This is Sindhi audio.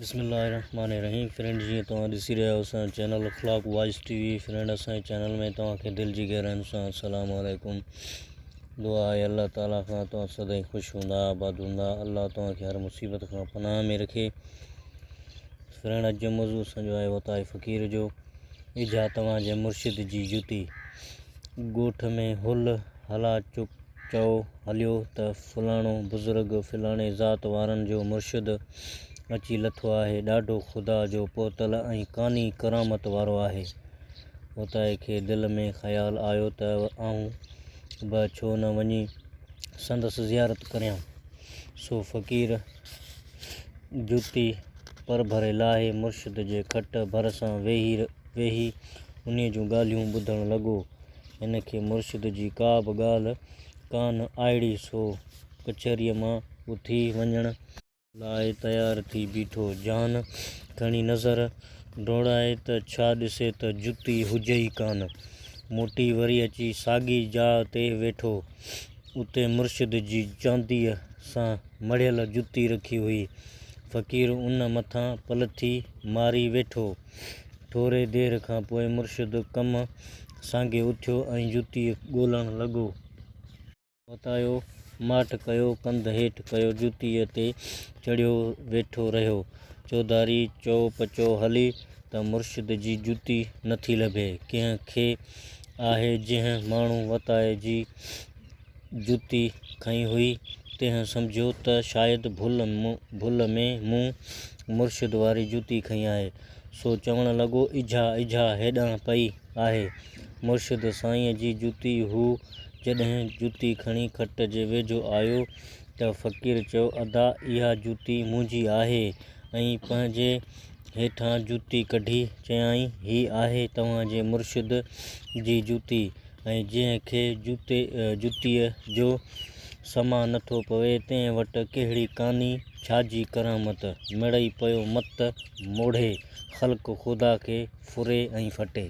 بسم الله الرحمٰن الرحيم فرينڊ جيئن توهان ڏسي رهيا آهيو اسان جو channel Akhlaq voice T V friend اسان جي چينل ۾ توهان کي دل جي گهرائين سان السلام عليڪم دعا آهي الله تعالي کان توهان سدائين خوش هوندا آباد هوندا الله توهان کي هر مصيبت کان پناهه ۾ رکي فرينڊ اڄ جو موضوع اسان جو آهي وتائي فقير جو اجها توهان جي مرشد جي جتي ڳوٺ ۾ هل هلا چپ چئو هليو ته فلاڻو بزرگ فلاڻي ذات وارن جو مرشد اچي لٿو آهي، ڏاڍو خدا جو پهتل ۽ قاني ڪرامت وارو آهي. اوتائي کي دل ۾ خيال آيو ته آئون به ڇو نه وڃي سندس زيارت ڪريان. سو فقير جوتي پرڀري لاهي مرشد جي کٽ ڀرسان ويهي انهيء جون ڳالهيون ٻڌڻ لڳو. هن کي مرشد جي ڪا به ڳالهه ڪانه آئڙي سو ڪچهريء مان اٿي وڃڻ لاء تيار ٿي بيٺو. جان کڻي نظر ڊوڙائي ته ڇا ڏسي ته جتي هجي ئي ڪانه. موٽي وري اچي ساڳي جاء تي ويٺو. اتي مرشد جي چانديء سان مڙهيل جتي رکي هئي. فقير ان مٿان پلٿي ماري ويٺو. ٿوري دير کان پوء مرشد ڪم سانگي اٿيو ۽ جتيء ڳولڻ لڳو. وتايو، ماٺ ڪيو، ڪنڌ هيٺ ڪيو، جتيء تي چڙهيو ويٺو رهيو. چوڌاري چؤ پچؤ هلي ته مرشد جي جتي نٿي لڀي. ڪنهن کي آهي جنهن ماڻهو وتايي جي جتي کنئي هئي، تنهن سمجهيو ته شايد ڀل ڀل ۾ مون مرشد واري جتي کنئي آهي، سو چوڻ لڳو، اجها اجها هيڏانهن پئي آهي. مرشد سائينء جي جتي هو. جڏهن جتي کڻي کٽ جي ويجهو آيو ته فقير چيو، ادا اها جتي منهنجي آهي. ۽ پنهنجي هيٺان جتي ڪڍي چيائين، هي آهي توهان جي مرشد جي جتي. ۽ جنهن کي جوتي جتيء جو سماع نٿو پوي، تنهن وٽ ڪهڙي ڪاني، ڇاجي ڪرامت؟ مڙئي پيو مت موڙهي، خلق خدا کي ڦري ۽ ڦٽي.